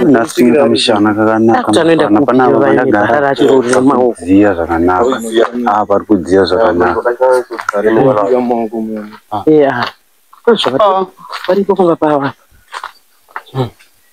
nasinga mushana kakanakaanoendakuziya zvakanaka a pari kudziya zvakanaka paripo pamba pava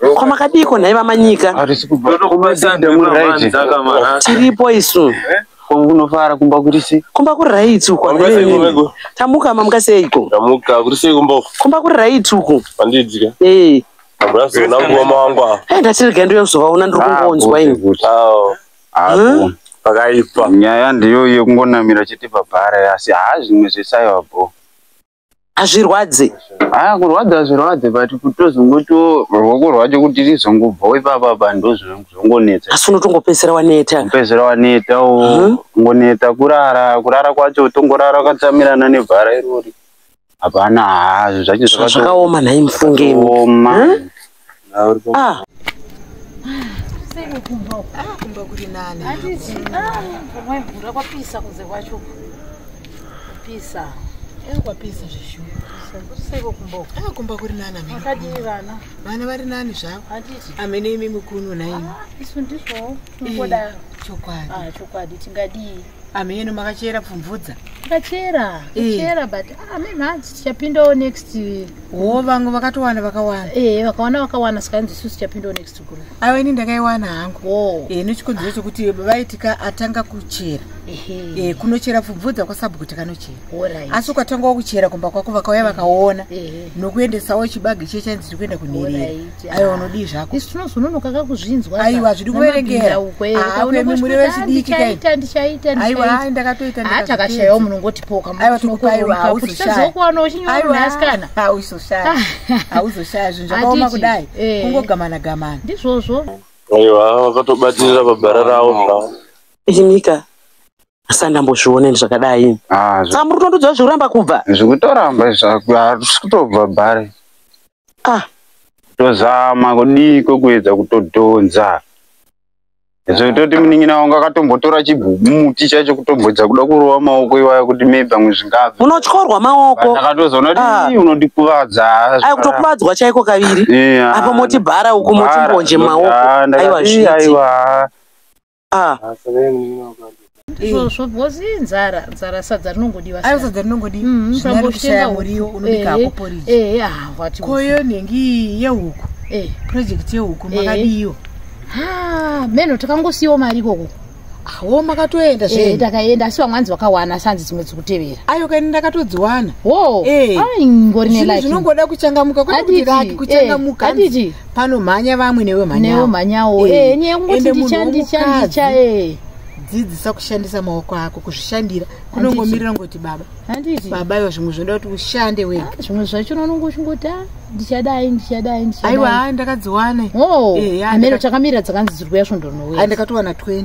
Ko makadiiko nhai vamanyika? Harisi kubva Ndoda kumba kubatsira sande ndemu muna right. vanza kamara. Tiripo isu. Ko kunofara kumba kuri sei? Kumba kuri right uko. Kumba sei kumba hanzi. uko? Tamuka mamuka seiko? Ndamuka kuri sei kumba uko? Kumba kuri right uko. Handidzika. Eh. Hambrazi una nguva mangu apa. Eh ndatirega ndiyo kuzovaona ndiri kungonzwa ini. Kuti. Awo. Apo. Pakaipa. Nyaya ndiyo yekungonamira chete pabhara asi haa zvimwe zvesaiwa bro. hazvirwadze haa ah, kurwadza hazvirwadze but kutozongotiwo ruoko rwacho kuti rizongobvawo ipapa pa ndozvongonetsa asi unotongopedzisira waneta kupedzisira waneta o mhm. ngoneta kurara kurara kwacho utongorara ukatsamirana nevhara irori hapana haa zvacho zvakaoma nhai mufunge oma Ah. Ah, kumba kuri nani hatizi ah, kumwe mvura kwapisa kunze kwacho kupisa eh, kwapisa zveshuaseiko kumba ah, kumba kuri nani akadii vana vana vari nani zvavo hatizi amene imi mukunu naimi isu ndizvowo tingoda chokwadi chokwadi tingadii ameno makachera pfumvudza kachera kachera eh. but ah, me manje tichapindawo next wo vamwe vakatowana vakawana ee eh, vakawana vakawana saka inzi isu tichapindawo next guru aiwa ini ndakaiwana hangu wo ee eh, nechikonzero chekuti vaitika atanga kuchera ee kunochera pfubvudza kwasabhu kuti kanochera asi ukatangawo kuchera kumba kwako vakauya vakaona nokuendesawo chibagi che chanzi tiri kuenda kunherera aiwa unodii zvako isu tinozononoka kakuzvinzwa aiwa zvidi kuverengera akwemi muri vechidiki aiwa ndakatoita ah, takashayawo munongotipoka aiwa tikupaiwa hauzoshaazokuwana uchinyoasikana hauzoshaya hauzoshaya zvinhu zvakaoma kudai eh. kungogamana gamana ndizvozvo aiwa vakatobatirira pabhara ravo zvavo inika asati ndambozviona ini zvakadai ah, samuri tondodzva zvekuramba kubva zvekutoramba izvi zvakutobva bhari ah tozama kudii kwekuedza kutodhonza zvototi munin'ina wangu akatombotora chibumuti chacho kutombodza kuda kurova maoko iwaya kuti maybe amwe zvingabva unotyorwa maoko ndakatozoona kuti ah. ii unondikuvadza ayi kutokuvadzwa chaiko kaviri apo moti bhara uku moti mbonje maoko aiwa aiwa ah. ah, izvozvo because inzara nzara sadza rinongodiwa ayo sadza rinongodiwa mm, zvinarikushaya muriwo unobika hako poriji ehe ah wati koyo nengi yehuku eh project yehuku makadiyo ha meno takangosiyawo mari ikoko wo makatoenda eh, zve ndakaenda asi vamwe anzi vakawana asi anzi dzimwe dzikutevera ayo kaini ndakatodziwana wo eh. aingori ne like zvinongoda kuchangamuka kwati kuchangamuka eh, panomhanya vamwe newe mhanyanewe mhanyawo eh, eh, nyaya yekungoti ndicha ndicha ndicha eh. dzidzisa kushandisa maoko ako kuzvishandira kunongomirira ngoti baba handiti baba iwa zvimwe zvoda kuti ushande wega ah, zvimwe zvacho unonongo uchingoti a ah, ndichadai ndichadai ndichadai aiwa ndakadziwana oh, eh, amene takamirira dzakanzi dziri kuya svondo rinouya ndakatowana 20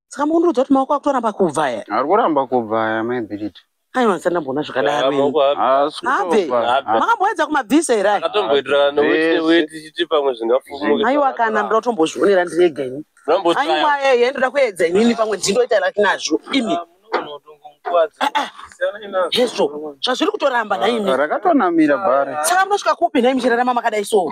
saka mukundiudza kuti maoko akutoramba kubva aya ari kuramba kubva aya mai bhirit aiwa ndisati ndamboona zvakadaro ini. Maoko ake. haasi Abve. kutopa Abve. makamboedza kumabvisa here aya Akatomboitirana neweti Yes. neweti chiti pamwe zvingafumuke. aiwa kana ndoda kutombozvionera ndiri ega ini Mambo aiwa try. yeye ndoda kuedza inini pamwe ndindoita laki nazvo imi hezvo zvazviri kutoramba nhaimi rakatonamira bhari saka munosvika kupi nhaimi chirarama makadai so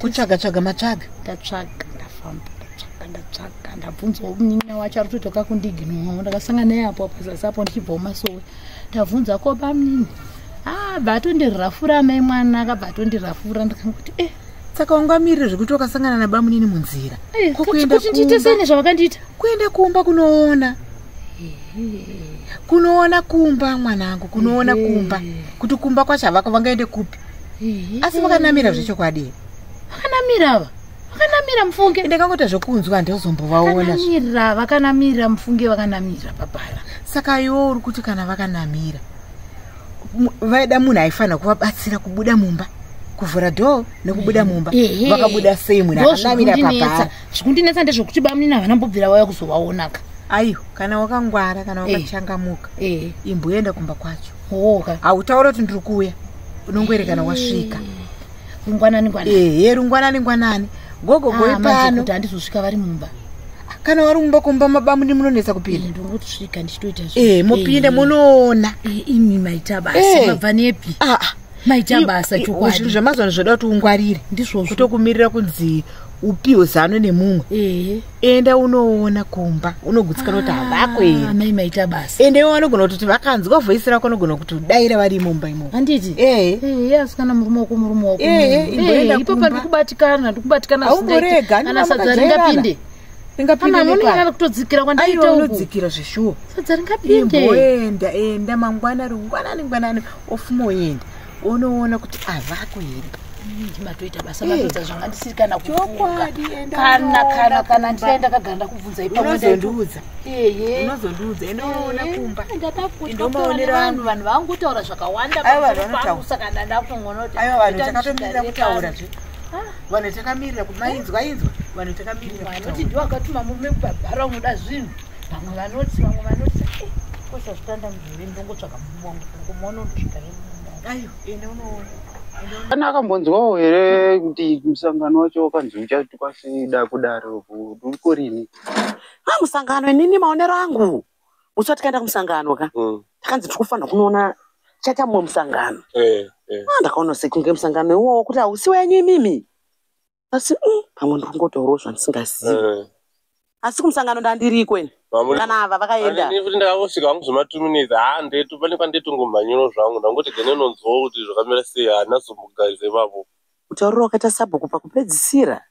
kutsvaga tsvaga matsvaga ndatsvaga ndafamba ndatsvaga ndatsvaga ndabvunzawo munin'ina wacho ari kutoita kakundiginwawo ndakasanga naye apo pazasi apo ndichibvawo masowe ndabvunza ko bamnini abva ah, atondirafura amai mwana akabva atondirafura ndikanguti e eh, saka wangamirire zvekuti wakasangana nabamunini munzira eh, kokuendakuitesene zvavakandiita kuenda kumba kunoona kunoona kumba mwanangu kunoona kumba kuti kumba kwacho havako vangaende kupi asi vakanamira zvechokwadi vakanamira ava vakanamira mufunge ndakangota zvekunzwa handozombovaonamira vakanamira mufunge vakanamira papara saka iwo uri kuti kana vakanamira vaida munhu aifanira kuvabatsira kubuda mumba kuvhura dho nekubuda mumba vakabuda sei munhu akanamira papara zvikundinetsa ndezvekuti bamunini havana mbobvira vauya kuzovaonaka aiwa kana wakangwara kana wakachangamuka imboenda kumba kwacho hoka hautaura kuti ndiri kuuya unongoerekana wasvika rungwanani ngwanani ehe rungwanani ngwanani gogo goi ah, pano kuti handizosvika vari mumba kana wari mumba kumba mabamuni munonetsa kupinda eh, ndongotosvika ndichitoita e mopinda munoona imi maita basa mabva nepi ah, ah. maita basa chokwadi zvemazuva ano zvoda kuti ungwarire ndizvozvo kutokumirira kunzi upiwe zano nemumwe enda unoona kumba unogutsikana kuti havako ah, here amai maita basa ende iwo vanogona kutoti vakanzwa voisi rako unogona kuti udaira vari imumba imo handiti ee ee asikana murume wako murume wako ee imboenda kumba ipopa ndikubatikana ndikubatikana aumborega ana sadza ringapinde ringapindekutozikira kwandaitaunodzikira zveshuwa sadza ringapinde imboenda enda mangwana ringwanani ngwanani ofuma uenda unoona kuti avako here ndimatoita basa matoita zvanga ndisiri kana kuukakana kana kana ndidai ndakagara ndakubvunza ipaunozondiudza unozondiudza ende unoona kumba ndomaonera vanhu vanhu vangotaura zvakawanda pakusa kana ndakungonoti aiwa vanhu takatomirira kutaura zve vanhu takamirira kuti mainzwa inzwa vanhu takamirira vanoti ndiwo akatuma murume kubabhara unoda zvinhu vamwe vanoti vamwe vanoti kosazvitanda mudhuri ndongotsvaka kana akambonzwawo here kuti musangano wacho wakanzi uchatuka sida kudaro uko rini a ah, musangano inini maonero angu musi watikaenda kumusangano ka mm. takanzi tiri kufanira kunoona chaita mumwe musangano eh, eh. Ah, ndakaona sekunge musangano iwowo kuti hausi wenyu imimi asi mm, pamwe ndiri kungotaurawo zvandisingazivi Eh, asi kumusangano ndandiriko ini mamuri- kana ava vakaenda Ani nekuti ndakangosvika hangu zvematuminitsi haa ndetu pane kwandetongomhanyiro zvangu ndangoti gene nonzwawo kuti zvakamira sei haana zomugarize ipapo kutaurira wakaita sabhuku pakupedzisira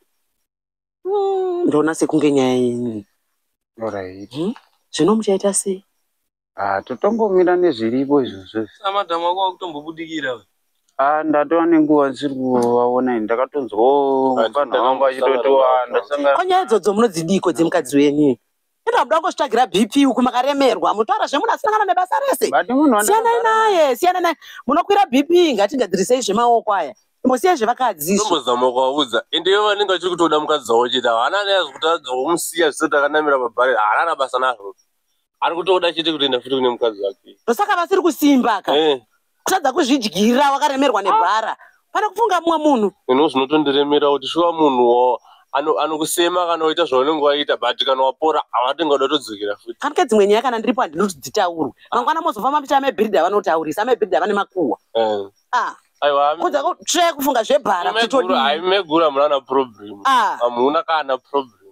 Mm, ndoona sekunge nyaya yenyu Alright. zvino muchaita sei Ah, totongomira nezviripo izvozvo. Saka madam wako wakutombobudikira. Ah, ndatova nenguva ndisiri kuvaona ini. Ndakatonzwa oh, vanhu vangu vachitotiwanda. Ko nyaya idzodzo munodzidiko dzemukadzi wenyu? Enda muda kungozvitsvagira BP uku makaremerwa. Mutora zvemunasangana nebasa rese. Siyanai naye, siyanai naye. Munokwira BP ngatigadzirisei zvemaoko aya. Musiyai zvevakadzi. Tombozama kuvaudza. Ende ivo vanenge vachiri kutoda mukadzi wavo chete. Haana neazvikuti adzo kumusiya zvisati akanamira pabhari. Haana basa nazvo. ari kutoda chete kutoenda futi kune mukadzi wake ndosaka vasiri kusimba ka Eh, kutadza kuzvidyira wakaremerwa nebhara pane kufunga mumwe munhu ino zvinotondiremera kuti shuwa munhu wa- ano- anokusema kana waita zvaunenge waita but kana wapora awatenga uda kutodzokera futi kana ke dzimwe nyaya kana ndiripo handidi kuti dzitaurwe mangwana mozofamba muti amebhiridha vanotaurisa amebhiridha vane makuhwa Eh, Ah, aiwa kudza kutsvaya kufunga zvebhara kuti megura- todii hai, megura munana problem Ah. hamuna kana problem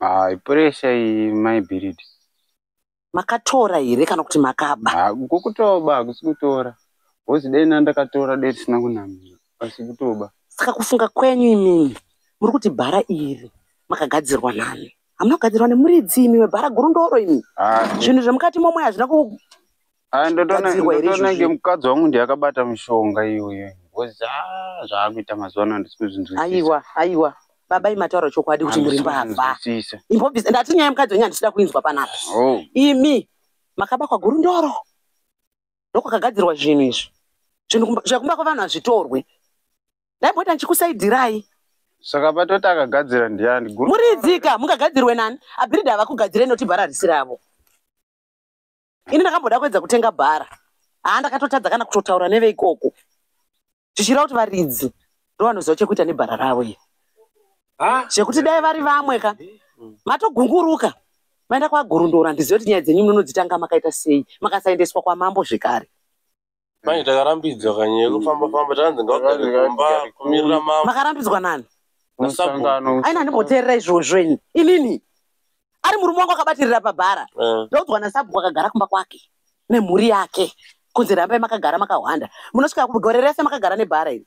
Ah, pressure iyi my biribi. Makatora here kana kuti makaba? Ah, kukutoba hakusi kutora. Hozi dai na ndakatora dai tisina kunamira. Asi kutoba. Saka kufunga kwenyu imimi muri kuti bhara iri makagadzirwa nani? Hamuna kugadzirwa nemuridzi imi webhara guru ndoro imi. Ah, zvinhu zvemukati momwe hazvina ku Ah, ndotona Kugadzirwa here ndotona izvozvi? ngemukadzi wangu ndiye akabata mishonga iyoyo ngozi ah, zvaakuita mazuva ano handisi kuzvinzwisisa aiwa aiwa baba imi mataura chokwadi kuti muri Handisi mbavha kuzvinzwisisa. imbobvisa ndati nyaya yemukadzi wenyu handisida kuinzwa panapa Oh, imi makabakwa gurundoro ndokwakagadzirwa zvinhu izvi zvinhu kumba- zvekumba kwevanhu hazvitorwe ndaibota ndichikusaidirai saka patoti akagadzira ndiyani guru muridzika mungagadzirwe nani abhiridha havakugadzirei noti bhara risi ravo ini ndakamboda kuedza kutenga bhara haa ndakatotadza kana kutotaura neveikoko zvichireva kuti varidzi ndovanoziva chekuita nebhara ravo iyo zvekuti dai vari vamwe ka matogunguruka maenda kwagurundora ndizive kuti nyaya dzenyu munonodzitanga makaita sei makasaendeswa kwamambo zvekare Mai takarambidzwa kanye kufamba famba tanzi ngagare kumba kumirira mama. Makarambidzwa nani? Musangano. Aina ndimboteerera izvozvo ini. Inini. Ari murume wangu akabatirira pabhara. Eh. Ndoudzwa nasabhuku akagara kumba kwake nemhuri yake. Kunzi rambai makagara makahwanda. Munosvika gore rese makagara nebhara iri.